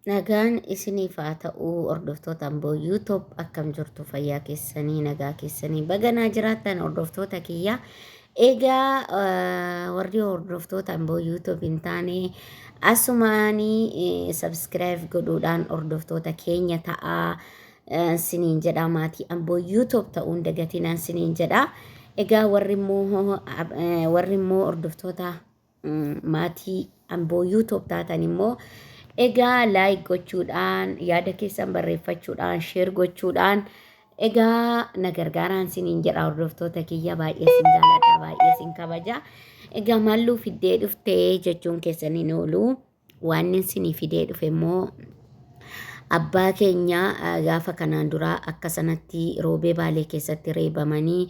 Nagaan isiniif haa ta'u hordoftoota Amboo YouTube akkam jirtu fayyaa keessanii nagaa keessanii baga naa jiraattan hordoftoota kiyya egaa eh, warri hordoftoota Amboo YouTube hin taane asumaanii eh, subscribe godhuudhaan hordoftoota keenya ta'aa eh, siniin jedha maatii Amboo YouTube ta'uun dagatinaan siniin jedha egaa warri immoo eh, warri immoo hordoftoota Maatii Amboo YouTube taatan immoo egaa like gochuudhaan yaada keessan barreeffachuudhaan share gochuudhaan egaa na gargaaraan siniin jedha hordoftoota kiyya baay'ee sin jaalladha baay'ee sin kabaja egaa maalluu fiddee dhuftee jechuun keessan hin oolu. Waannin sinii fidee dhufe immoo abbaa keenya gaafa kanaan duraa akka sanatti roobee baalee keessatti reebamanii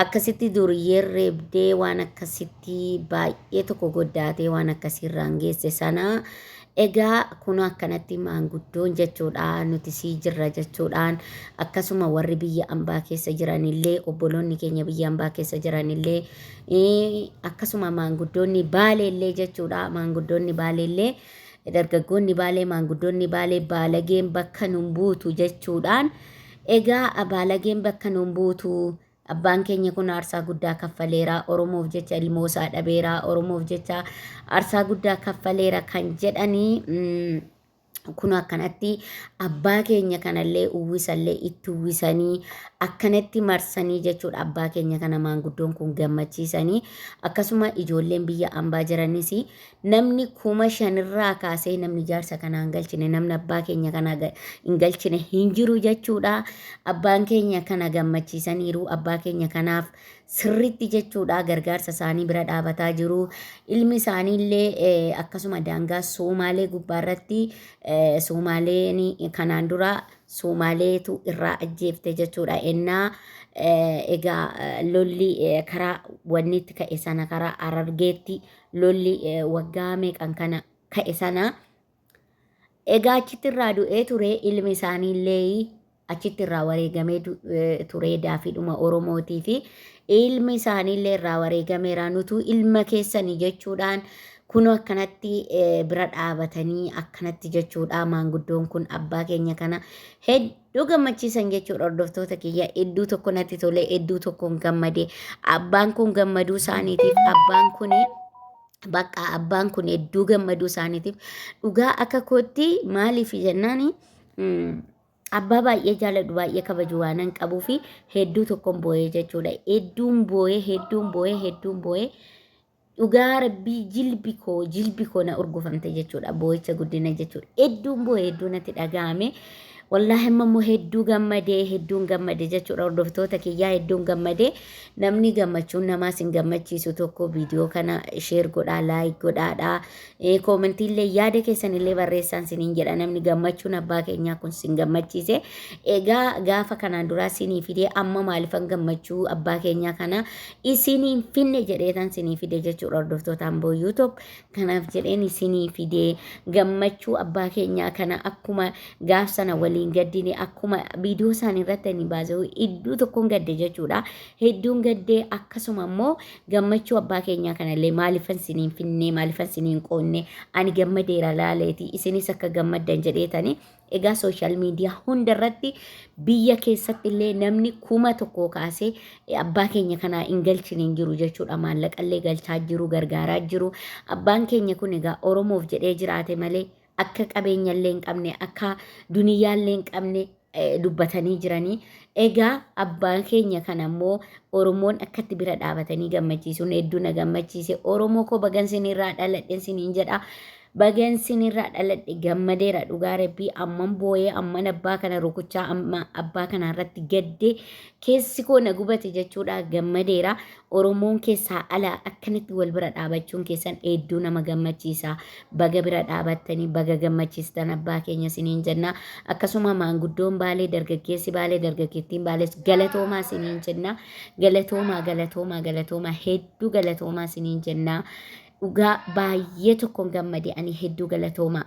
akkasitti duriyyeen reebdee waan akkasitti baay'ee tokko goddaatee waan akkasii irraan geesse sana egaa kun akkanatti maanguddoon jechuudha nuti sii jirra jechuudhaan akkasuma warri biyya ambaa keessa jiranillee obboloonni keenya biyya ambaa keessa jiranillee akkasuma maanguddoonni baaleellee jechuudha maanguddoonni baaleellee dargaggoonni baalee maanguddoonni baalee baalageen bakka nun buutu jechuudhaan egaa baalageen bakka nun buutu abbaan keenya kun aarsaa guddaa kaffaleera oromoof jecha ilmoo isaa dhabeera oromoof jecha aarsaa guddaa kaffaleera kan jedhanii mm, kun akkanatti abbaa keenya kanallee uwwisallee itti uwwisanii akkanatti marsanii jechuudha abbaa keenya kana maanguddoon kun gammachiisanii akkasuma ijoolleen biyya ambaa jiranis namni kuma shanirraa kaasee namni jaarsa kanaa hin galchine namni abbaa keenya kanaa ga- hin galchine hin jiru jechuudha abbaan keenya kana gammachiisaniiru abbaa keenya kanaaf sirriitti jechuudha gargaarsa isaanii bira dhaabataa jiru. Ilmi isaanii illee eh, akkasuma daangaa Soomaalee gubbaa irratti eh, Soomaaleen kanaan dura Soomaaleetu irraa ajjeefte jechuudha. Ennaa eh, egaa eh, lolli eh, karaa wanni itti ka'e sana karaa Harargeetti lolli eh, waggaa meeqan kana ka'e sana Egaa achitti irraa du'ee ture ilmi isaanii illee achitti irraa wareegamee du- eh, ture daafiidhuma Oromootii fi ilmi isaanii illee irraa wareegameera nutuu ilma keessanii jechuudhaan kunoo akkanatti eh, bira dhaabatanii akkanatti jechuudha maanguddoon kun abbaa keenya kana hedduu gammachiisan jechuudha hordoftoota kiyya hedduu tokko natti tole hedduu tokkoon gammade abbaan kun gammaduu isaaniitiif abbaan kuni Baqqaa abbaan kun hedduu gammaduu isaaniitiif dhugaa akka kootti maaliif jennaan abbaa baay'ee jaaladhu baay'ee kabaju waanan qabuu fi hedduu tokkon boo'ee jechuudha. Hedduun boo'ee hedduun boo'ee hedduun boo'ee dhugaa rabbii jilbi koo jilbi koo na urgufamte jechuudha. Boo'icha guddina jechuudha. Hedduun boo'ee hedduun natti dhaga'ame. Wallaahi amma immoo hedduu gammadee hedduun gammade jechuudha hordoftoota kiyyaa hedduun gammade namni gammachuun namaa sin gammachiisu tokko viidiyoo kana sheer godhaa laayik godhaadha koomentiillee yaada keessanillee barreessaan siniin jedha namni gammachuun abbaa keenyaa kun sin gammachiise egaa gaafa kanaan duraa sinii fidee amma maalifan gammachuu abbaa keenyaa kana isiniin finne jedheetan sinii fide jechuudha hordoftoota amboo yuutuub Kanaaf jedheen isinii fide. Gammachuu abbaa keenyaa kana akkuma gaaf sana waliin gaddine akkuma viidiyoo isaanii irratti ani baasee hedduu tokkoon gadde jechuudha. Hedduun gaddee akkasuma immoo gammachuu abbaa keenyaa kanallee maaliifan isiniin finnee maaliifan isiniin qoonne ani gammadeera laaleeti isinis akka gammaddan jedheetani Egaa sooshaal miidiyaa hunda irratti biyya keessatti illee namni kuma tokkoo kaasee abbaa keenya kanaa hin galchine hin jiru jechuudha. Maallaqa illee galchaa jiru, gargaaraa jiru. Abbaan keenya kun egaa Oromoof jedhee jiraate malee akka qabeenya illee hin qabne, akka duniyyaa illee hin qabne dubbatanii jiranii. Egaa abbaan keenya kana immoo Oromoon akkatti bira dhaabatanii gammachiisuun hedduu na gammachiise. Oromoo koo bagan sinirraa dhaladhen siniin jedha. Bagan sinirraa dhaladhe gammadeera dhugaa rabbii amman booyee amman abbaa kana rukuchaa amma abbaa kana irratti gadde keessi koo na gubate jechuudha gammadeera oromoon keessaa ala akkanatti wal bira dhaabachuun keessan hedduu nama gammachiisa baga bira dhaabattanii baga gammachiistan abbaa keenya siniin jenna akkasuma maanguddoon baalee dargaggeessi baalee dargaggeettiin baalees galatoomaa siniin jenna galatoomaa galatoomaa galatoomaa hedduu galatoomaa siniin jenna. Dhugaa baay'ee tokkoon gammade ani hedduu galatoomaa.